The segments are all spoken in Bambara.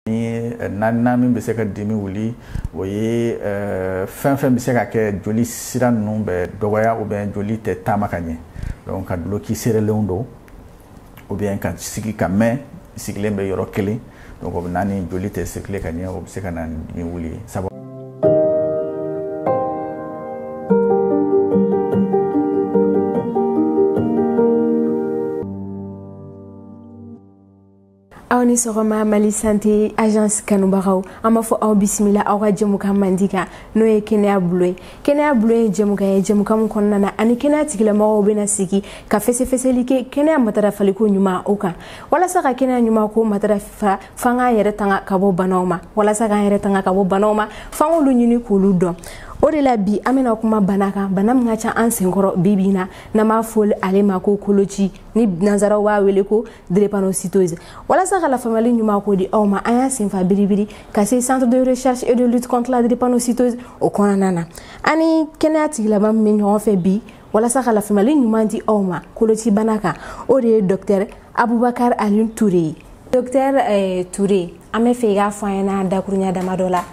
ni naaninan min bɛ se ka dimi wuli o ye fɛn fɛn bɛ se ka kɛ joli sira ninnu bɛ dɔgɔya ou bien joli tɛ taama ka ɲɛ donc ka duloki seerelenw don ou bien ka sigi ka mɛn sigilen bɛ yɔrɔ kelen donc o bɛ na ni joli tɛ circuler ka ɲɛ o bɛ se ka na ni dimi wuli ye sabu aw ni sɔgɔma mali sante agence kanubagaw an b'aw fo aw bisimila aw ka jɛmukan mandi kan n'o ye kɛnɛya bulon ye kɛnɛya bulon ye jɛmukan ye jɛmukan min kɔnɔna na an ni kɛnɛya tigilamɔgɔw bɛna sigi ka fɛsɛfɛsɛli kɛ kɛnɛya matarafaliko ɲuman o kan walasa ka kɛnɛya ɲuman ko matarafa f'an k'an yɛrɛ tanga ka bɔ banaw ma walasa k'an yɛrɛ tanga ka bɔ banaw ma f'an k'olu ɲini k'olu dɔn o de la bi an bɛna kuma bana kan bana min ka ca an senkɔrɔ bi bi na n'an b'a fɔ ale ma ko koloci ni nansaraw b'a wele ko drépanocytose walasa ka lafaamuyali ɲuman ko di aw ma an y'a senfa biribiri ka se centre de recherche et de lutte contre la drépanocytose o kɔnɔna na an ni kɛnɛya tigilama min bɛ ɲɔgɔn fɛ bi walasa ka lafaamuyali ɲuman di aw ma kolocibana kan o de ye docteur abubakar ali ture ye docteur eh, ture an b'a fɛ i k'a fɔ an ɲɛna dakuruɲɛ damadɔ la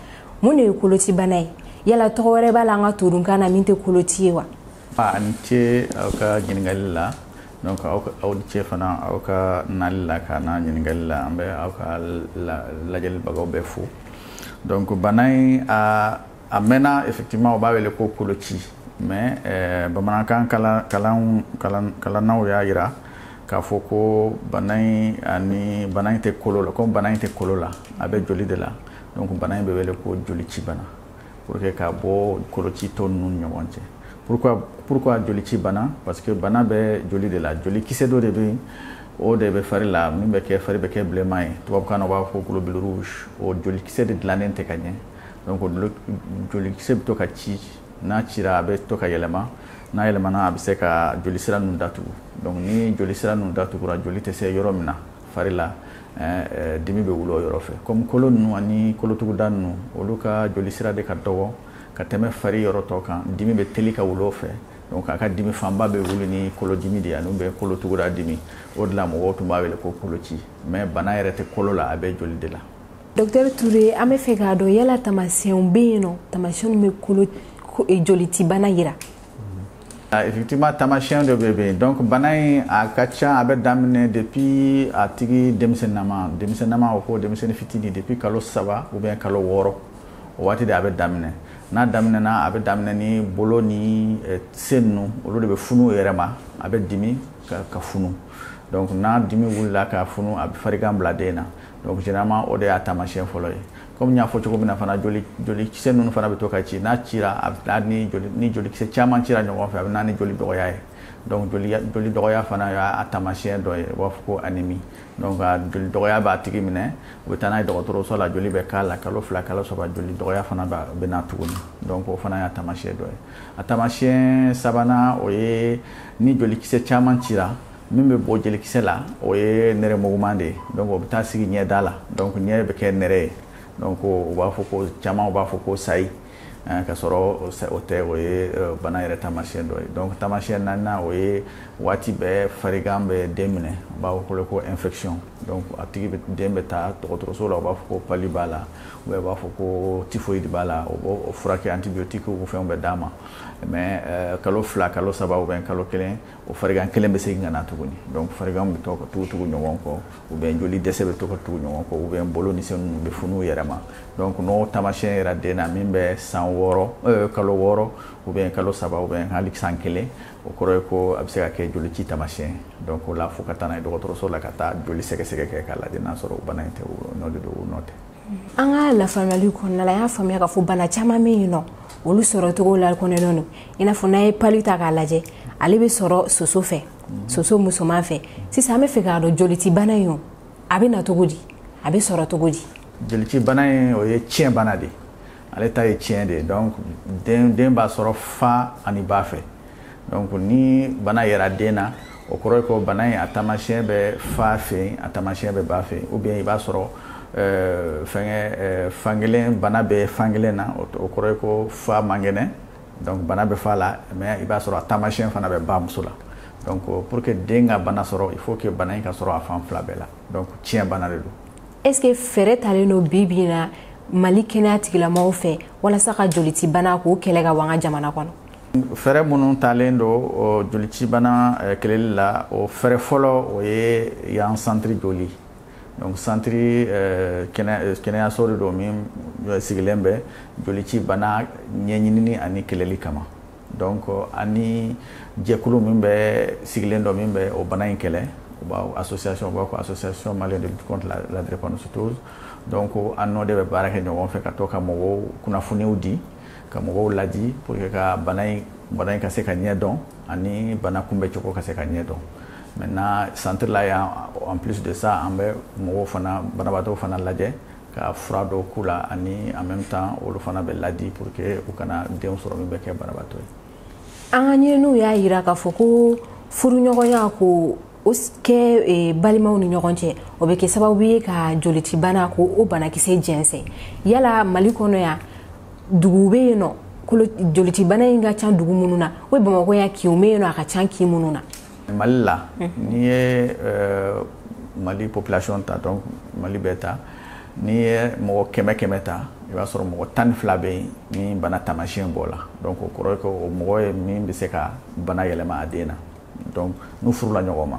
mun de ye kolocibana ye yala tɔgɔ wɛrɛ b'a la an ka todunkan na min tɛ koloci ye wa A ni ce aw ka ɲininkali la donc aw ka aw ni ce fana aw ka nali la ka na ɲininkali la an bɛ aw ka la lajɛlibagaw bɛɛ fo donc bana in a a mɛnna effectivement u b'a wele ko koloci mais eh, bamanankan kalan kalan kalan kalannaw y'a yira k'a fɔ ko bana in ani bana in tɛ kolo la komi bana in tɛ kolo la a bɛ joli de la donc bana in bɛ wele ko jolici bana pour que ka bɔ koloci tɔ ninnu ɲɔgɔn cɛ pourquoi pourquoi joli ci bana parce que bana bɛ joli de la joli kisɛ dɔ de bɛ yen o de bɛ fari la min bɛ kɛ fari bɛ kɛ bilenman ye tubabukan na u b'a fɔ globule rouge o joli kisɛ de dilannen tɛ ka ɲɛ donc joli kisɛ bɛ to ka ci n'a cira a bɛ to ka yɛlɛma n'a yɛlɛmana a bɛ se ka joli sira ninnu datugu donc ni joli sira ninnu datugura joli tɛ se yɔrɔ min na fari la dimi bɛ wuli o yɔrɔ fɛ kɔmi kolo ninnu ani kolotuguda ninnu olu ka joli sira de ka dɔgɔ ka tɛmɛ fari yɔrɔ tɔ kan dimi bɛ teli ka wuli o fɛ donc a ka dimi fanba bɛ wuli ni kolodimi de ye ani bɛ kolotuguda dimi o de la mɔgɔw tun b'a wele ko koloci mais bana yɛrɛ tɛ kolo la a bɛ joli de la docteur Toure an b'a fɛ k'a dɔn yala taamasiyɛnw bɛ yen n'o taamasiyɛnw bɛ kolo jolicibana jira Effectivement taamasiyɛn dɔ bɛ yen donc bana in a ka ca a bɛ daminɛ depuis a tigi denmisɛnninama denmisɛnninama o ko denmisɛnnin fitini depuis kalo saba ou bien kalo wɔɔrɔ o waati de a bɛ daminɛ n'a daminɛna a bɛ daminɛ ni bolo ni eh, sen ninnu olu de bɛ funu yɛrɛ ma a bɛ dimi ka funu donc n'a dimi wulila ka funu a bɛ farigan bila den na donc généralement o de y'a taamasiyɛn fɔlɔ ye comme n y'a fɔ cogo min na fana joli jolikisɛ ninnu fana bɛ to ka ci n'a cira a bɛ ni joli ni jolikisɛ caman cira ɲɔgɔn fɛ a bɛ na ni joli dɔgɔya ye donc joli joli dɔgɔya fana y'a taamasiyɛn dɔ ye u b'a fɔ ko anémie donc a joli dɔgɔya b'a tigi minɛ u bɛ taa n'a ye dɔgɔtɔrɔso la joli bɛ k'a la kalo fila kalo saba joli dɔgɔya fana bɛ na tuguni donc o fana y'a taamasiyɛn dɔ ye a taamasiyɛn sabanan o ye ni jolikisɛ caman cira min bɛ bɔ jolikisɛ la o ye nɛrɛmuguman de ye donc o bɛ taa sigi ɲɛda la donc ɲɛ bɛ kɛ nɛrɛ ye donc u b'a fɔ ko caman u b'a fɔ ko sayi eh, ka sɔrɔ o tɛ o ye eh, bana yɛrɛ taamasiyɛn dɔ ye donc taamasiyɛn naaninan o ye waati bɛɛ farigan bɛ den minɛ u b'a fɔ ko infection donc a tigi bɛ den bɛ taa dɔgɔtɔrɔso la u b'a fɔ ko pali b'a la u b'a fɔ ko typhoïde b'a la u b'o furakɛ antibiotiques fɛnw bɛ d'a ma mais eh, kalo fila kalo saba ou bien kalo kelen o farigan kelen bɛ segin ka na tuguni donc farigan bɛ to ka tugu tugu ɲɔgɔn kɔ ou bien joli dɛsɛ bɛ to ka tugu ɲɔgɔn kɔ ou bien bolo ni sen ninnu bɛ funu yɛrɛ ma donc n'o taamasiyɛn yera den na min bɛ san wɔɔrɔ euh, kalo wɔɔrɔ ou bien kalo saba ou bien hali san kelen o kɔrɔ ye ko a bɛ se ka kɛ jolici taamasiyɛn donc o la fo ka taa n'a ye dɔgɔtɔrɔso la ka taa joli sɛgɛsɛgɛ kɛ k'a lajɛ n'a sɔrɔ o bana in tɛ o nɔ de don o nɔ tɛ an ka lafaamuyali kɔnɔna la an y'a faamuya k'a fɔ bana caman bɛ yen n'olu sɔrɔ cogo lakodɔnnen don i n'a fɔ n'an ye pali ta k'a lajɛ ale bɛ sɔrɔ soso fɛ soso musoman fɛ sisan an bɛ fɛ k'a dɔn jolici bana in o a bɛ na cogo di a bɛ sɔrɔ cogo di jolici bana in o ye tiɲɛ bana de ye ale ta ye tiɲɛ de ye donc den den b'a sɔrɔ fa ani ba fɛ donc ni bana yera den na o kɔrɔ ye ko bana in a taamasiyɛn bɛ fa fɛ yen a taamasiyɛn bɛ ba fɛ yen ou bien i b'a sɔrɔ euh, fɛngɛ euh, fankelen bana bɛ fankelen na o kɔrɔ ye ko fa man kɛnɛ donc bana bɛ fa la mais i b'a sɔrɔ a taamasiyɛn fana bɛ bamuso la donc pour que den ka bana sɔrɔ il faut que bana in ka sɔrɔ a fan fila bɛɛ la donc tiɲɛ bana de don est-ce que fɛɛrɛ talen don bi bi in na Mali kɛnɛya tigilamɔgɔw fɛ walasa ka jolicibana k'o kɛlɛ ka bɔ an ka jamana kɔnɔ fɛɛrɛ minnu talen don jolicibana eh, kɛlɛli la o fɛɛrɛ fɔlɔ o ye yan centre joli donc centre eh, eh, kɛnɛyaso de don min sigilen bɛ jolici bana ɲɛɲinini ani kɛlɛli kama Donc ani jɛkulu min bɛ sigilen don min bɛ o bana in kɛlɛ u b'a association u b'a fɔ association malienne de lutte contre la, la drépanocytose donc an n'o de bɛ baara kɛ ɲɔgɔn fɛ ka to ka mɔgɔw kunnafoniw di ka mɔgɔw ladi pour que ka bana in bana in ka se ka ɲɛ dɔn ani bana kunbɛ cogo ka se ka ɲɛ dɔn maintenant centre la yan en plus de ça an bɛ mɔgɔw fana banabaatɔw fana lajɛ ka fura dɔw k'u la ani en même temps olu fana bɛ ladi pour que u kana denw sɔrɔ min bɛ kɛ banabaatɔ ye an ka ɲininiw y'a yira k'a fɔ ko furuɲɔgɔnya ko o kɛ e, balimaw ni ɲɔgɔn cɛ o bɛ kɛ sababu ye ka jolitibana ko o banakisɛ jɛnsɛn yala mali kɔnɔ yan duguw bɛ yen nɔ jolitibana in ka ca dugu minnu na o bamakɔ yan kinw bɛ yen nɔ a ka ca kin minnu na mali la n'i ye mali population ta donc mali bɛɛ ta n'i ye mɔgɔ kɛmɛ kɛmɛ ta i b'a sɔrɔ mɔgɔ tan ni fila bɛ yen ni bana taamasiyɛn b'o la donc o kɔrɔ ye ko o mɔgɔ ye min bɛ se ka bana yɛlɛma a den na donc n'u furula ɲɔgɔn ma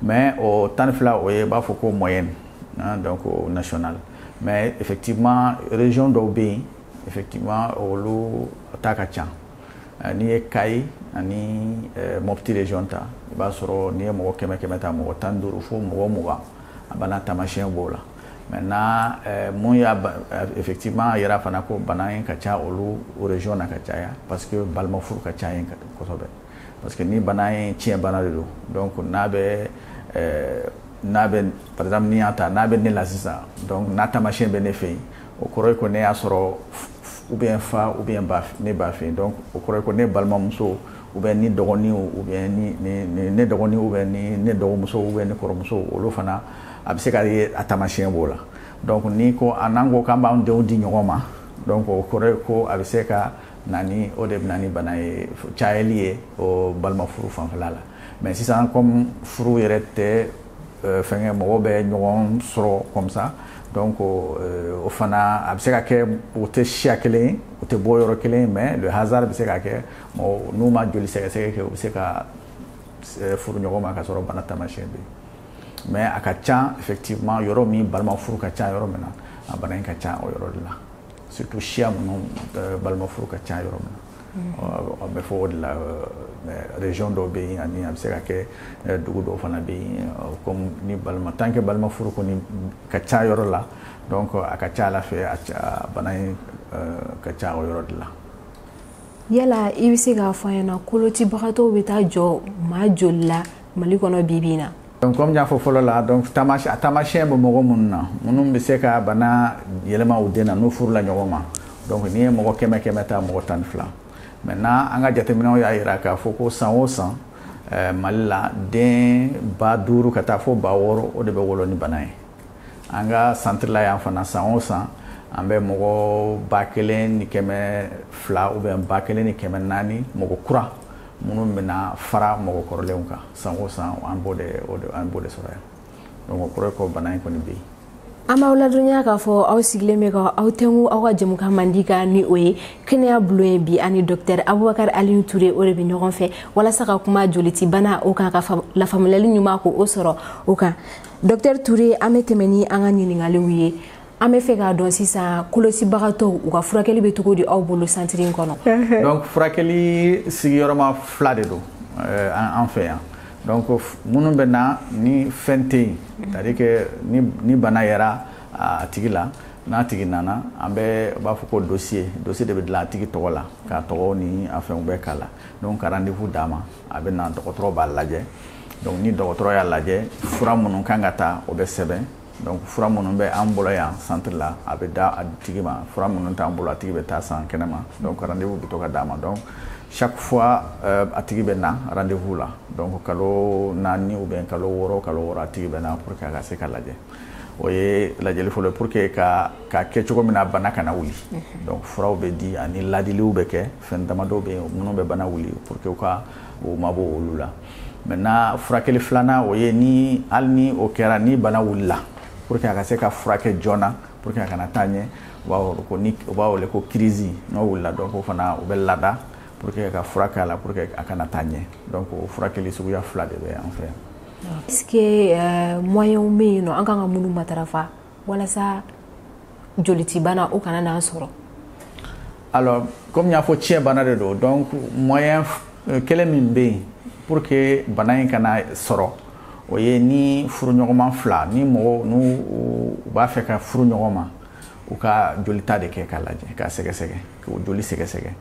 mais o tan ni fila o ye b'a fɔ ko moyenne hein, donc o national mais effectivement région dɔw bɛ yen effectivement olu ta ka ca n'i ye kayi ani mɔpti région ta i b'a sɔrɔ n'i ye mɔgɔ kɛmɛ kɛmɛ ta mɔgɔ tan ni duuru fo mɔgɔ mugan a bana taamasiyɛn b'o la maintenant mun y'a effectivement yira fana ko bana in ka ca olu région na ka caya parce que balima furu ka ca yen kosɛbɛ parce que ni bana in tiɲɛ bana de don donc n'a bɛ n'a bɛ par exemple n'i y'a ta n'a bɛ ne la sisan n'a taamasiyɛn bɛ ne fɛ yen o kɔrɔ ye ko ne y'a sɔrɔ ou bien fa ou bien ne ba fɛ yen donc o kɔrɔ ye ko ne balimamuso ou bien ne dɔgɔnin ou bien ne dɔgɔnin ou bien ne dɔgɔmuso ou bien ne kɔrɔmuso olu fana a bɛ se ka ye a taamasiyɛn b'o la donc ni ko a n'an ko k'an b'an denw di ɲɔgɔn ma donc o kɔrɔ ye ko a bɛ se ka na ni o de bɛ na ni bana ye cayali ye o balima furu fanfɛla la mais sisan comme furu yɛrɛ tɛ euh, fɛnkɛ mɔgɔw bɛ ɲɔgɔn sɔrɔ comme ça donc euh, o fana a bɛ se ka kɛ u tɛ siya kelen ye u tɛ bɔ yɔrɔ kelen ye mais le hasard bɛ se ka kɛ mɔgɔ n'u ma joli sɛgɛsɛgɛ kɛ u bɛ se ka euh, furu ɲɔgɔn ma k'a sɔrɔ bana taamasiyɛn bɛ yen mais a ka ca effectivement yɔrɔ min balima furu ka ca yɔrɔ min na a bana in ka ca o yɔrɔ de la surtout siya minnu euh, balima furu ka ca yɔrɔ min na bɛ fɔ o de la région dɔw bɛ yen ani a bɛ se ka kɛ dugu dɔw fana bɛ yen comme ni balima tant que balima furu kɔni ka ca yɔrɔ la donc a ka ca a la fɛ a bana in ka ca o yɔrɔ de la yala i bɛ se k'a fɔ an ɲɛna kolotibagatɔw bɛ taa jɔ maa joli la mali kɔnɔ bibi in na donc comme y'a fɔ fɔlɔ la donc a taamasiyɛn bɛ mɔgɔ minnu na minnu bɛ se ka bana yɛlɛma u den na n'u furula ɲɔgɔn ma donc n'i ye mɔgɔ kɛmɛ kɛmɛ ta mɔgɔ tan ni fila maintenant an ka jateminɛw y'a jira k'a fɔ ko san o san eh, mali la den ba duuru ka taa fo ba wɔɔrɔ o de bɛ wolo ni bana ye an ka centre la yan fana san o san an bɛ mɔgɔ ba kelen ni kɛmɛ fila ou bien ba kelen ni kɛmɛ naani mɔgɔ kura minnu bɛna fara mɔgɔ kɔrɔlenw kan san o san an b'o de an b'o de sɔrɔ yan donc o kɔrɔ ye ko bana in kɔni bɛ yen an b'aw ladɔnya k'a fɔ aw sigilen bɛ ka aw tɛnku aw ka jɛmukan mandi kan ni o ye kɛnɛya bulon ye bi ani dɔktɛr abubakar aliyu ture o de bɛ ɲɔgɔn fɛ walasa ka kuma joliti bana o kan ka lafaamuyali ɲuman ko o sɔrɔ o kan dɔktɛr ture an bɛ tɛmɛ ni an ka ɲininkaliw ye an bɛ fɛ k'a dɔn sisan kolocibagatɔw u ka furakɛli bɛ cogo di aw bolo santiri in kɔnɔ donc furakɛli sigiyɔrɔma fila de don eh, an fɛ yan donc minnu bɛ na ni fɛn tɛ yen c'est à dire que ni bana yera a tigi la n'a tigi nana an bɛ b'a fɔ ko dossier dossier de bɛ dilan a tigi tɔgɔ la k'a tɔgɔ ni a fɛnw bɛɛ k'a la donc ka rendez-vous d'a ma a bɛ na dɔgɔtɔrɔ b'a lajɛ donc ni dɔgɔtɔrɔ y'a lajɛ fura minnu kan ka ta o bɛ sɛbɛn donc fura minnu bɛ an bolo yan centre la a bɛ di a tigi ma fura minnu t'an bolo a tigi bɛ taa san kɛnɛma donc rendez-vous bɛ to ka d'a ma donc chaque fois euh, a tigi bɛ na rendez-vous la donc kalo naani ou bien kalo wɔɔrɔ kalo wɔɔrɔ a tigi bɛ na pour que a ka se ka lajɛ o ye lajɛli fɔlɔ ye pour que ka ka kɛ cogo min na bana kana wuli donc furaw bɛ di ani ladiliw bɛ kɛ fɛn damadɔ bɛ yen minnu bɛ bana wuli pour que u ka u mabɔ olu la maintenant furakɛli filanan o ye ni hali ni o kɛra ni bana wulila pour que a ka se ka furakɛ joona pour que a kana taa ɲɛ u b'a wele ko ni u b'a wele ko kirisi n'o wulila donc o fana u bɛ lada pour que ka fura k'a la pour que a kana taa ɲɛ donc o furakɛli suguya fila de bɛ an fɛ yan est ce que euh, moyen bɛ yen n'an kan ka minnu matarafa walasa jolitibana o kana n'an sɔrɔ alors comme y'a fɔ ciyɛn bana de don donc moyen euh, kelen min bɛ yen pour que bana in kana sɔrɔ o ye ni furuɲɔgɔnma fila ni mɔgɔw n'u u b'a fɛ ka furu ɲɔgɔn ma u ka jolita de kɛ k'a lajɛ k'a sɛgɛsɛgɛ k'o joli sɛgɛsɛgɛ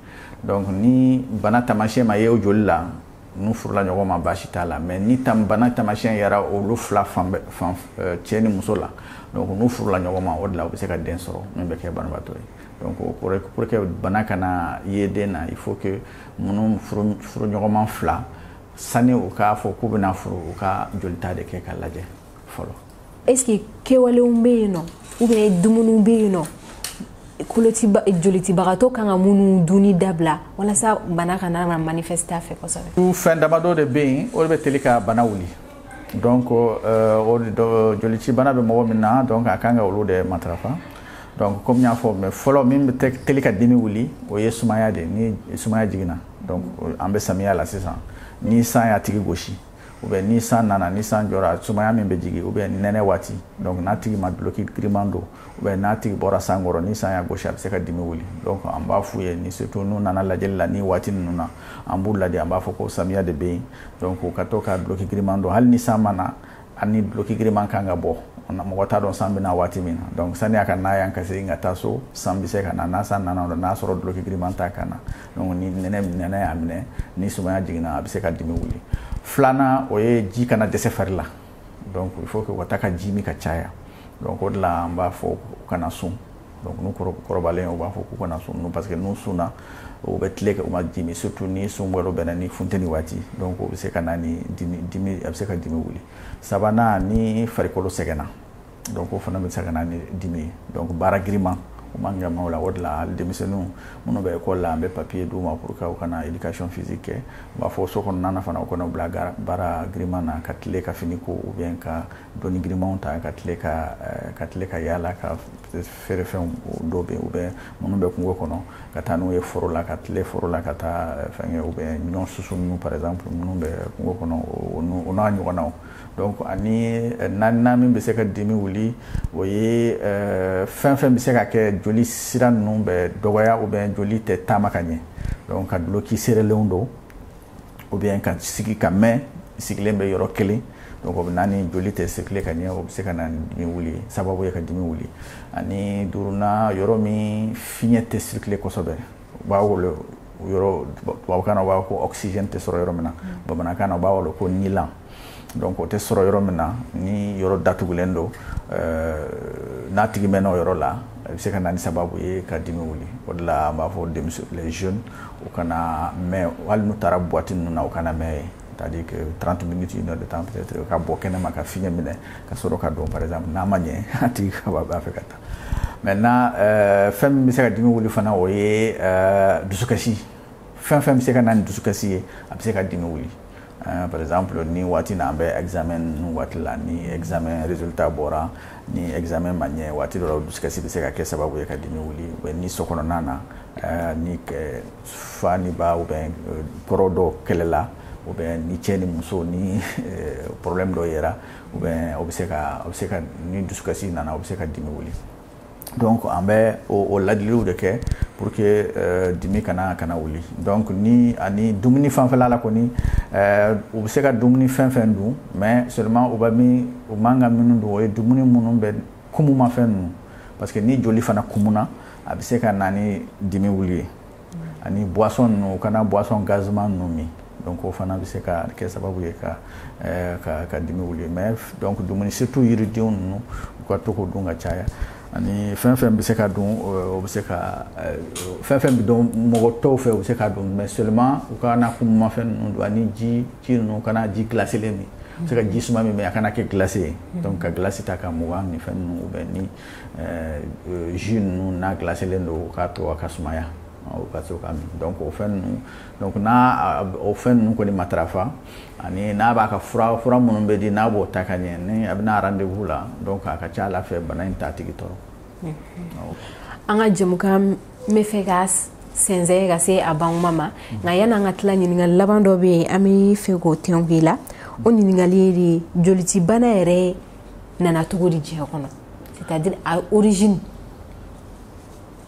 donc ni bana taamasiyɛn ma ye o joli la n'u furula ɲɔgɔn ma baasi t'a la mais ni tam bana taamasiyɛn yera olu fila fan fan eh, cɛ ni muso la donc n'u furula ɲɔgɔn ma o de la u bɛ se ka den sɔrɔ min bɛ kɛ banabaatɔ ye donc o kɔrɔ pour que bana kana ye den na il faut que minnu furu furu ɲɔgɔnma fila sani u k'a fɔ k'u bɛna furu u ka jolita de kɛ k'a lajɛ fɔlɔ est ce que kɛwalew bɛ yen nɔ ou bien dumuniw bɛ yen nɔ jolicibagatɔ kan ka minnu dunni dabila walasa bana kana manifester a fɛ kosɛbɛ. fɛn damadɔ de bɛ yen o de bɛ teli ka bana wuli donc euh, o de jolici bana bɛ mɔgɔ min na donc a kan ka olu de matarafa donc komi n y'a fɔ mais fɔlɔ min bɛ teli ka dimi wuli o ye sumaya de ye ni sumaya jiginna donc an bɛ samiya la sisan ni san y'a tigi gosi. ou bien ni san nana ni san jɔra sumaya min bɛ jigin ou bien nɛnɛ waati donc n'a tigi ma duloki giriman don ou bien n'a tigi bɔra san kɔrɔ ni san y'a gosi a bɛ se ka dimi wuli donc an b'a f'u ye ni surtout n'u nana lajɛli la ni waati ninnu na an b'u ladi an b'a fɔ ko samiya de bɛ yen donc u ka to ka duloki giriman don hali ni san ma na a ni duloki giriman kan ka bɔ mɔgɔ t'a dɔn san bɛna waati min na donc sani a ka na yan ka segin ka taa so san bɛ se ka na ni san nana o la n'a sɔrɔ duloki giriman t'a kan na donc ni nɛnɛ nɛnɛ y'a minɛ ni sumaya jiginna a bɛ se ka dimi wuli filanan o ye ji kana dɛsɛ fari la donc il faut que u ka taa ka ji min ka caya donc o de la an b'a fɔ u kana sun donc n'u kɔrɔbalen u b'a fɔ k'u kana sun parce que n'u sunna u bɛ tile kɛ u ma ji min surtout ni sun yɛrɛ bɛnna ni funteni waati donc o bɛ se ka na ni dimi dimi a bɛ se ka dimi wuli sabanan ni farikolo sɛgɛnna donc o fana bɛ se ka na ni dimi ye donc baara giriman o man kan maaw la o de la hali denmisɛnninw minnu bɛ ekɔli la an bɛ papiye d'u ma pour que u kana éducation physique kɛ u b'a fɔ so kɔnɔna na fana u kana u bila baara giriman na ka tile ka fini ko ou bien ka doni girimanw ta ka tile ka eh, ka tile ka yaala ka feerefɛnw dɔw bɛ yen ou bien minnu bɛ kungo kɔnɔ ka taa n'u ye foro la ka tile foro la ka taa eh, fɛnkɛ ou bien ɲɔ susu ninnu par exemple minnu bɛ kungo kɔnɔ o n'a ɲɔgɔnnaw donc ani euh, naaninan min bɛ se ka dimi wuli o ye euh, fɛn fɛn bɛ se ka kɛ joli sira ninnu bɛ dɔgɔya ou bien joli tɛ taama ka ɲɛ donc ka duloki seerelenw don ou bien ka sigi ka mɛn sigilen bɛ yɔrɔ kelen donc o bɛ na ni joli tɛ circuler ka ɲɛ o bɛ se ka na ni dimi wuli ye sababu ye ka dimi wuli ani duurunan yɔrɔ min fiɲɛ tɛ circuler kosɛbɛ u b'a wele yɔrɔ tubabukan na u b'a fɔ ko oxygène tɛ sɔrɔ yɔrɔ min na mm. bamanankan na u b'a wele ko nilan donc o tɛ sɔrɔ yɔrɔ min na ni yɔrɔ datugulen don euh, n'a tigi mɛnna o yɔrɔ la a bɛ se ka na ni sababu ye ka dimi wuli o de la an b'a fɔ denmisɛnw les jeunes u kana mɛn hali n'u taara boîte ninnu na u kana mɛn yen c'est-à-dire que 30 minutes une heure de temps peut-être ka bɔ kɛnɛma ka fiɲɛ minɛ ka sɔrɔ ka don par exemple n'a ma ɲɛ a tigi ka b'a fɛ ka taa maintenant euh, fɛn min bɛ se ka dimi wuli fana o ye euh, dusukasi fɛn fɛn bɛ se ka na ni dusukasi ye a bɛ se ka dimi wuli euh, par exemple ni waati na an bɛ examen ninnu waati la ni examen résultat bɔra ni examen ma ɲɛ waati dɔ la dusukasi bɛ se ka kɛ sababu ye ka dimi wuli ou bien ni so kɔnɔna na euh, ni euh, fa ni ba ou bien euh, kɔrɔ dɔ kɛlɛla ou bien ni cɛ ni muso ni euh, problème dɔ yera ou bien o bɛ se ka o bɛ se ka ni dusukasi nana o bɛ se ka dimi wuli donc an bɛ o ladiliw de kɛ pour que euh, dimi kana kana wuli donc ni ani dumuni fanfɛla la kɔni euh, u bɛ se ka dumuni fɛn fɛn dun mais seulement u bɛ min u man ka minnu dun o ye dumuni minnu bɛ kumumafɛn ninnu parce que ni joli fana kumuna a bɛ se ka na ni dimi wuli ye ani buwasɔn ninnu u kana buwasɔn gaziman ninnu min donc o fana bɛ se ka kɛ sababu ye ka eh, ka ka dimi wuli mais donc dumuni surtout yiridenw ninnu u ka to k'o dun ka caya ani fɛn fɛn bɛ se ka dun o bɛ se ka eh, fɛn fɛn bɛ dun mɔgɔ tɔw fɛ u bɛ se ka dun mais seulement u kana kumumafɛn ninnu dun ani ji ji ninnu kana ji gilasilen min u bɛ se ka ji suma min mais a kana kɛ gilasi ye donc ka gilasi ta ka mugan ni fɛn ninnu ou bien ni Euh, euh, jus ninnu n'a gilasilen don k'a to a ka sumaya o ka se ka min donc o fɛn ninnu donc n'a o fɛn ninnu kɔni matarafa ani n'a b'a ka fura fura minnu bɛ di n'a b'o ta ka ɲɛ ni a bɛ na rendez-vous la donc a ka ca ala fɛ bana in t'a tigi tɔɔrɔ an ka jɛmukan bɛ fɛ ka sɛnsɛn ka se a bantuma ma nka yan'an ka tila ɲininkali laban dɔ bɛ yen an bɛ fɛ k'o tɛnku i la o ɲininkali ye de jolitibana yɛrɛ nana cogo di diɲɛ kɔnɔ c'est à dire a origine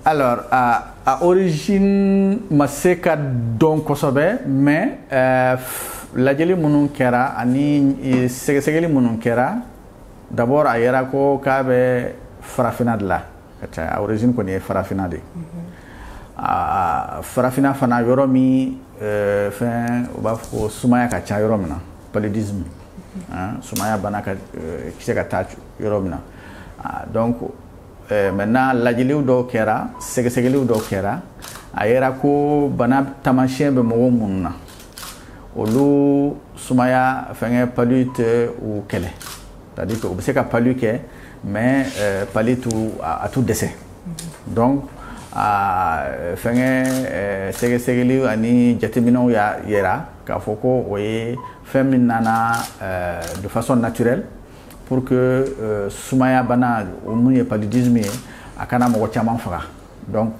alors a, a origine ma se ka dɔn kosɛbɛ mais euh, lajɛli minnu kɛra ani e, sɛgɛsɛgɛli minnu kɛra d'abord a yera ko k'a bɛ farafina de la ka caya a origine kɔni ye farafina de ye mm -hmm. farafina fana yɔrɔ min fɛn u b'a fɔ ko sumaya ka ca yɔrɔ min na paludisme hein, sumaya bana ka euh, se ka taa yɔrɔ min na ah, donc euh, maintenant lajɛliw dɔw kɛra sɛgɛsɛgɛliw dɔw kɛra a yera ko bana taamasiyɛn bɛ mɔgɔ minnu na olu sumaya fɛngɛ palu tɛ u kɛlɛ c'est à dire que u bɛ se ka palu kɛ mais euh, palu t'u a t'u dɛsɛ donc a fɛngɛ sɛgɛsɛgɛliw ani jateminɛw y'a yira k'a fɔ ko o ye fɛn min nana euh, de façon naturelle pour que euh, sumaya bana min ye paludisme ye a kana mɔgɔ caman faga donc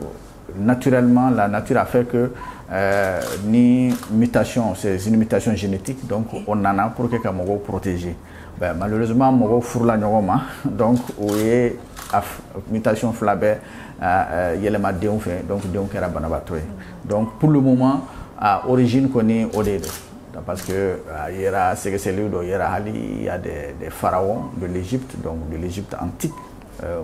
naturellement la nature a fait que euh, ni mutation c'est une mutation génétique donc o nana pour que ka mɔgɔw protéger ben, malheureusement mɔgɔw furula ɲɔgɔn ma donc o ye mutation fila bɛɛ euh, euh, yɛlɛma denw fɛ donc denw kɛra banabaatɔ ye Donc pour le moment a origine kɔni o de don parce que a yera sɛgɛsɛgɛliw dɔ yera hali il y a des pharaons de l'Égypte donc de l'Égypte antique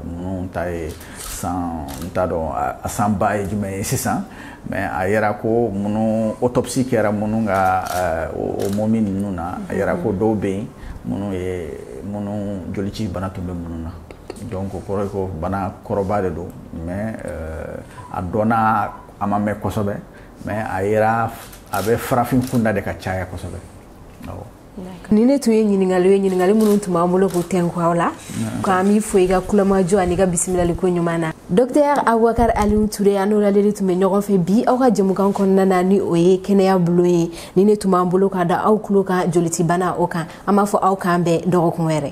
minnu ta ye san n t'a dɔn a san ba ye jumɛn ye sisan mais a yera ko minnu autopsie kɛra minnu ka o momie ninnu na a yera ko dɔw bɛ yen minnu ye minnu jolicibana tun bɛ minnu na donc o kɔrɔ ye ko bana kɔrɔba de don mais euh, a dɔnna a ma mɛn kosɛbɛ mais a yera a bɛ farafin kunda de ka caya kosɛbɛ awɔ nin de tun ye ɲininkali ye ɲininkali minnu tun b'an bolo k'u tɛnku aw la k'an b'i fo i ka kulomajɔ ani ka bisimilali ko ɲuman na docteur abubakar aliw ture an n'o ladeli tun bɛ ɲɔgɔn fɛ bi aw ka jɛmukan kɔnɔna na ni o ye kɛnɛya bulon ye nin de tun b'an bolo k'a da aw tulo kan jolicibana o kan an b'a fɔ aw k'an bɛn dɔgɔkun wɛrɛ